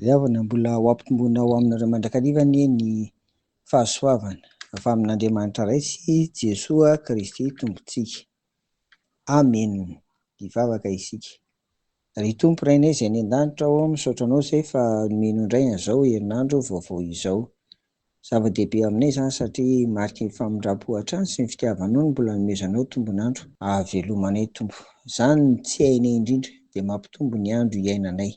Ry havana, mbola ho ampitomboina ho aminareo mandrakariva anie ny fahasoavana avy amin'Andriamanitra Ray sy Jesoa Kristy Tompontsika. Amen! Hivavaka isika. Ry Tompo Rainay izay any an-danitra ô, misaotra Anao izay fa nomeno indray an'izao herinandro vaovao izao. Zava-dehibe aminay izany satria mariky ny famindrampo hatrany sy ny fitiavanao ny mbola anomezanao tombon'andro. Ahavelomanay Tompo. Izany no tsy hainay indrindra dia mampitombo ny andro hiainanay.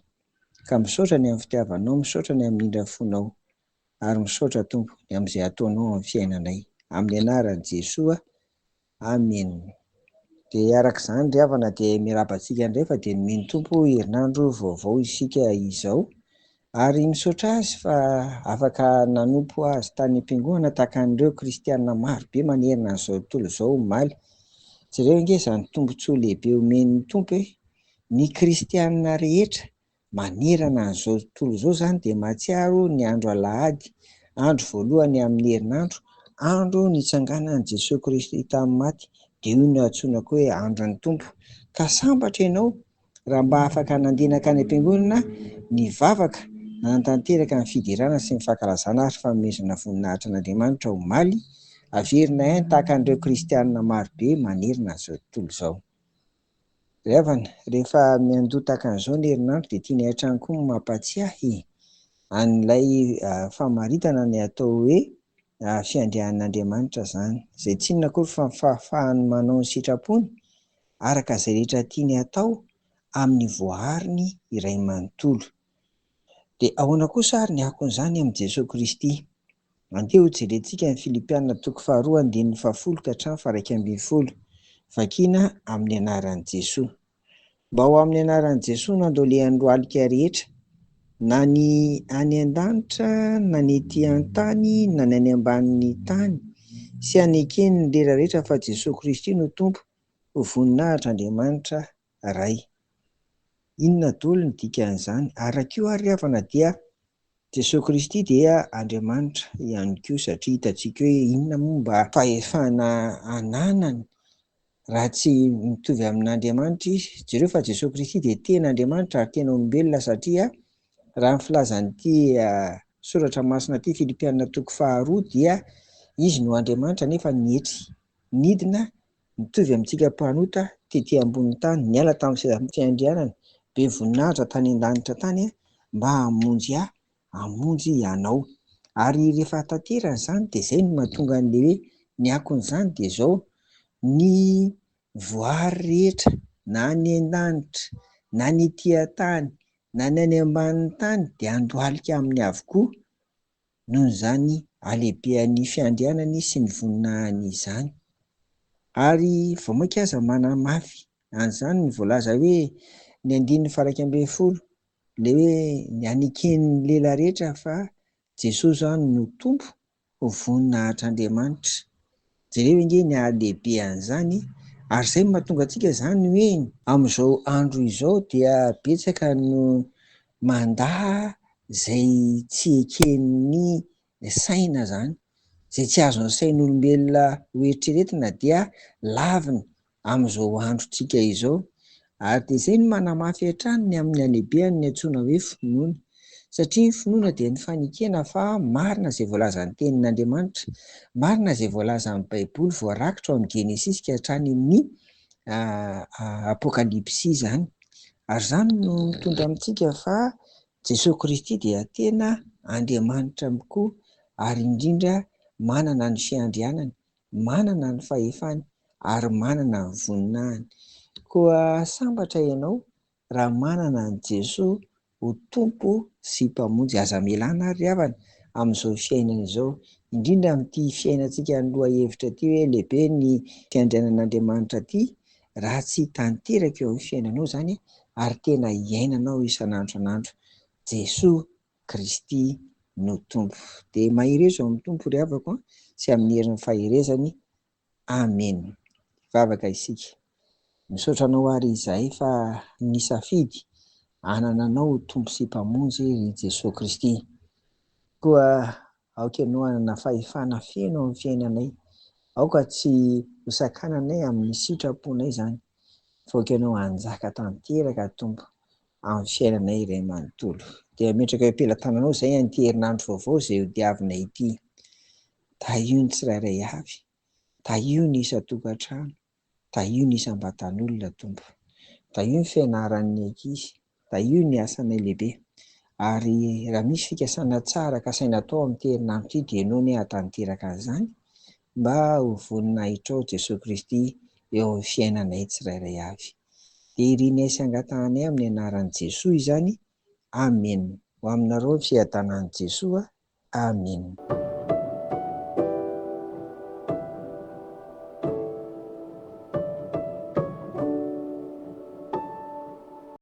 Ka misaotra ny amin'ny fitiavanao, misaotra ny amin'ny indra fonao. Ary misaotra Tompo, ny amin'izay ataonao amin'ny fiainanay. Amin'ny anaran'i Jesoa Amen dia araka izany ry havana dia miraba antsika indray fa dia nomeny Tompo herinandro vaovao isika izao ary misaotra Azy fa afaka nanompo Azy tany am-piangonana tahaka an'ireo kristiana maro be manerana an'izao tontolo izao omaly. Jereo ange izany tombon-tsoa lehibe omen'ny Tompo e! Ny kristiana rehetra Manerana an'izao tontolo izao izany dia mahatsiaro ny andro Alahady, andro voalohany amin'ny herinandro, andro nitsanganan'i Jesoa Kristy tamin'ny maty, dia io no antsoina koa hoe andron'ny Tompo. Ka sambatra ianao raha mba afaka nandeha nankany am-piangonana nivavaka nanatanteraka ny fiderana sy ny fankalazana ary fanomezana voninahitra an'Andriamanitra omaly, averina ihany tahaka an'ireo kristianina marobe manerana an'izao tontolo izao. Ry havana, rehefa miandoha tahaka an'izao ny herinandro dia tianay hatrany koa ny mampahatsiahy an'ilay famaritana ny atao hoe fiandrian'Andriamanitra izany, izay tsy inona akory fa ny fahafahany manao ny sitrapony araka izay rehetra tiany hatao amin'ny voaariny iray manontolo. Dia ahoana kosa ary ny akon'izany amin'i Jesoa Kristy? Andeha hojerentsika ny Filipiana toko faharoa andininy fahafolo ka hatramin'ny faharaika ambin'ny folo, vakina amin'ny anaran'i Jesoa. Mba ho amin'ny anaran'i Jesoa no andolehan'ny lohalika rehetra, na ny any an-danitra, na ny ety an-tany, na ny any ambanin'ny tany, sy hanekeny ny lera rehetra fa Jesoa Kristy no Tompo, ho voninahitr'Andriamanitra Ray. Inona doly ny dikan'izany? Araka io ary ry havana dia Jesoa Kristy dia Andriamanitra ihany koa satria hitantsika hoe inona moa mba fahefana ananany raha tsy mitovy amin'Andriamanitra izy? Jereo fa Jesoa Kristy dia tena Andriamanitra ary tena olombelona satria raha ny filazan'ity soratra masina ity Filipiana toko faharoa dia izy no Andriamanitra nefa nietry nidina Mitovy amintsika mpanota tety ambonin'ny tany niala tamin'ny sezafiandrianana be voninahitra tany an-danitra tany mba hamonjy ahy, hamonjy ianao. Ary rehefa tanterany izany dia izay no mahatonga an'ilay hoe ny akon'izany dia izao, ny voary rehetra na any an-danitra na ny ety an-tany na ny any ambanin'ny tany dia handohalika aminy avokoa. noho izany halehibehan'ny fiandrianany sy ny voninahiny izany. Ary vao mainka aza manamafy an'izany ny voalaza hoe ny andininy faharaika ambin'ny folo, ilay hoe ny haneken'ny lela rehetra fa Jesosy izany no Tompo, ho voninahitr' Andriamanitra. Jereo ange ny hahalehibe an'izany ary izay no mahatonga antsika izany ho eny. Amin'izao andro izao dia betsaka no mandà izay tsy eken'ny saina izany. Izay tsy azon'ny sain'olombelona hoeritreretina dia laviny amin'izao androntsika izao, ary dia izay no manamafy hatrany ny amin'ny halehibehan'ny antsoina hoe finoana, satria ny finoana dia ny fanekena fa marina izay voalazan'ny Tenin'Andriamanitra, marina izay voalazan'ny Baiboly voarakitra ao amin'ny Genesisy ka hatrany amin'ny Apokalypsy izany, ary izany no mitondra amintsika fa Jesoa Kristy dia tena Andriamanitra mikoa ary indrindra manana ny fiandrianany. manana ny fahefany ary manana ny voninahiny. Koa sambatra ianao raha manana an'i Jesoa ho Tompo sy Mpamonjy. Aza amelana àry ry havana amin'izao fiainana izao, indrindra amin'ity fiainantsika ny lohahevitra ity hoe lehibe ny fiandrianan'Andriamanitra ity, raha tsy tanteraka eo amin'ny fiainanao izany ary tena iainanao isan'andro isan'andro Jesoa Kristy no Tompo. Dia mahereza ao amin'ny Tompo ry havako an, sy amin'ny herin'ny faherezany. Amena. Hivavaka isika. Misaotra Anao àry izahay fa nisafidy hanana Anao ho Tompo sy Mpamonjy, ry Jesoa Kristy. Koa aoka Ianao hanana fahefana feno amin'ny fiainanay. Aoka tsy ho sakananay amin'ny sitraponay izany, fa aoka Ianao hanjaka tanteraka, Tompo. amin'ny fiainanay iray manontolo. Dia ametraka eo am-pelatananao izay an'ity herinandro vaovao izay hodiavina ity. Tahio ny tsirairay avy, tahio ny isan-tokantrano, tahio ny isam-batan'olona, Tompo. Tahio ny fianaran'ny ankizy, tahio ny asanay lehibe. Ary raha misy fikasana tsara kasaina atao amin'ity herinandro ity dia ianao anie hahatanteraka an'izany, Mba ho voninahitrao Jesoa Kristy eo amin'ny fiainanay tsirairay avy. Dia irinay sy angatahanay amin'ny anaran'i Jesoa izany. Amen. Ho aminareo ny fiadanan'i Jesoa. Amen.